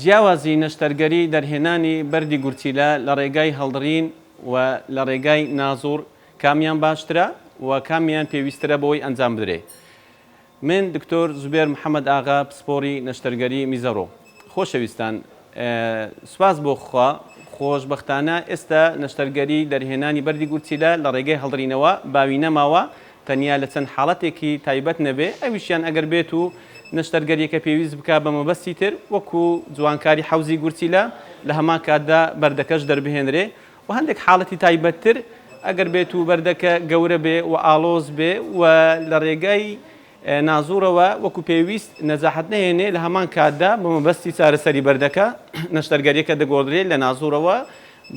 جیاوازی نەشتەرگەری دەرهێنانی بەردی گورچیلە لە ڕێگای هەڵدڕین و لە ڕێگای نازوڕ کامیان باشترە و کامیان پێویسترە بۆی ئەنجام بدرێ من دکتۆر زوبێر محمد ئاغا پسپۆری نەشتەرگەری میزەڕۆ خۆشەویستان سوپاس بۆ خوا خۆش بەختانە ئێستا نەشتەرگەری دەرهێنانی بەردی گورچیلە لە ڕێگەی هەڵدڕینەوە باوی نەماوە تەنیا لە چەند حاڵەتێکی تایبەت نەبێ، ئەویشیان ئەگەر بێت و نەشتەرگەرییەکە پێویست بکا بە مەبەستی تر، وەکوو جوانکاری حەوزی گورچیلە، لە هەمان کاتدا بەردەکەش دەربهێنرێ و هەندێک حاڵەتی تایبەتتر ئەگەر بێت و بەردەکە گەورە بێ و ئاڵۆز بێ و لە ڕێگای نازووڕەوە وەکوو پێویست نەجاحەت نەهێنێ، لە هەمان کاتدا بە مەبەستی چارەسەری بەردەکە، نەشتەرگەرییەکە دەگۆڕدرێ لە نازووڕەوە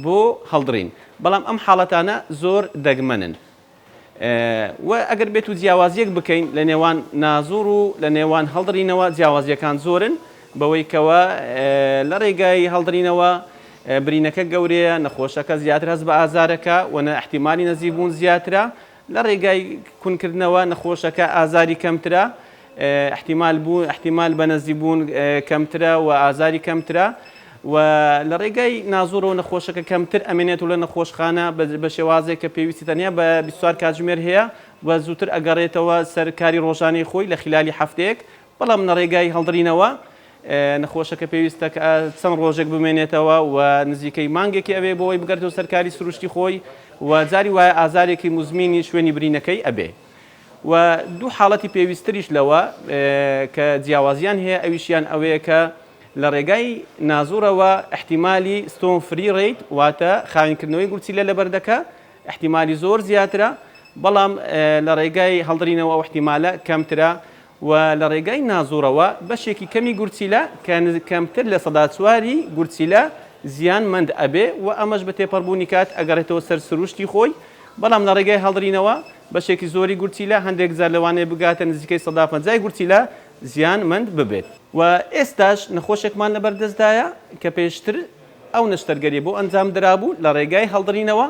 بۆ هەڵدڕین، بەڵام ئەم حاڵەتانە زۆر دەگمەنن. وە ئەگەر بێت و جیاوازیەک بکەین لە نێوان نازوڕ و لە نێوان هەڵدڕینەوە جیاوازیەکان زۆرن بەوەی کەوە لە ڕێگای هەڵدڕینەوە برینەکە گەورەیە نەخۆشەکە زیاتر هەست بە ئازارەکە و نە احتیمالی نەزیبوون زیاترە لە ڕێگای کونکردنەوە نەخۆشەکە ئازاری کەمترە ئیحتیمال بوون ئیحتیمال بەنەزی بوون کەمترە و ئازاری کەمترە و لە ڕێگای نازوورەوە نەخۆشەکە کەمتر ئەمێنێت و لە نەخۆشخانە بە شێوازێک کە پێویستی تەنیا بە بیست و چوار کاتژمێر هەیە و زووتر ئەگەڕێتەوە سەر کاری ڕۆژانەی خۆی لە خیلالی هەفتەیەک بەڵام لە ڕێگای هەڵدڕینەوە نەخۆشەکە پێویستە کە چەند ڕۆژێک بمێنێتەوە و نزیکەی مانگێکی ئەوێ بۆ ئەوی بگەرێتەوە سەر کاری سروشتی خۆی و جاری وایە ئازارێکی موزمینی شوێنی برینەکەی ئەبێ. و دوو حاڵەتی پێویستتریش لەوە کە جیاوازیان هەیە ئەویشیان ئەوەیە کە لە ڕێگای نازوڕەوە احتیمالی ستۆن فری ڕیت واتە خاوینکردنەوەی گورچیلە لە بەردەکە احتیمالی زۆر زیاترە بەڵام لە ڕێگای هەڵدرینەوە ئەو احتیمالە کەمترە و لە ڕێگای نازوڕەوە بەشێکی کەمی گورچیلە کە کەمتر لە سەدا چواری گورچیلە زیان مەند ئەبێ و ئەمەش بە تێپەڕبوونی کات ئەگەڕێتەوە سەر سروشتی خۆی بەڵام لە ڕێگای هەڵدرینەوە بەشێکی زۆری گورچیلە هەندێک جار لەوانەیە بگاتە نزیکەی سەدا پەنجا ی گورچیلە زیان مەند ببێت و ئێستاش نەخۆشێکمان لەبەر دەستدایە کە پێشتر ئەو نەشتەرگەریە بۆ ئەنجام درابوو لە ڕێگای هەڵدڕینەوە،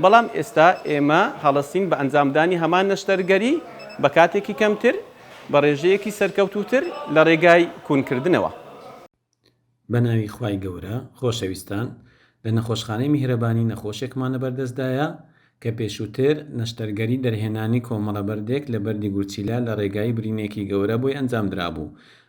بەڵام ئێستا ئێمە هەڵەستین بە ئەنجامدانی هەمان نەشتەرگەری بە کاتێکی کەمتر، بە ڕێژەیەکی سەرکەوتووتر لە ڕێگای کونکردنەوە. بە ناوی خوای گەورە خۆشەویستان لە نەخۆشخانەی میهرەبانی نەخۆشێکمان لە بەردەستدایە کە پێشووتر نەشتەرگەری دەرهێنانی کۆمەڵە بەردێک لە بەردی گورچیلە لە ڕێگای برینێکی گەورە بۆی ئەنجام درابوو،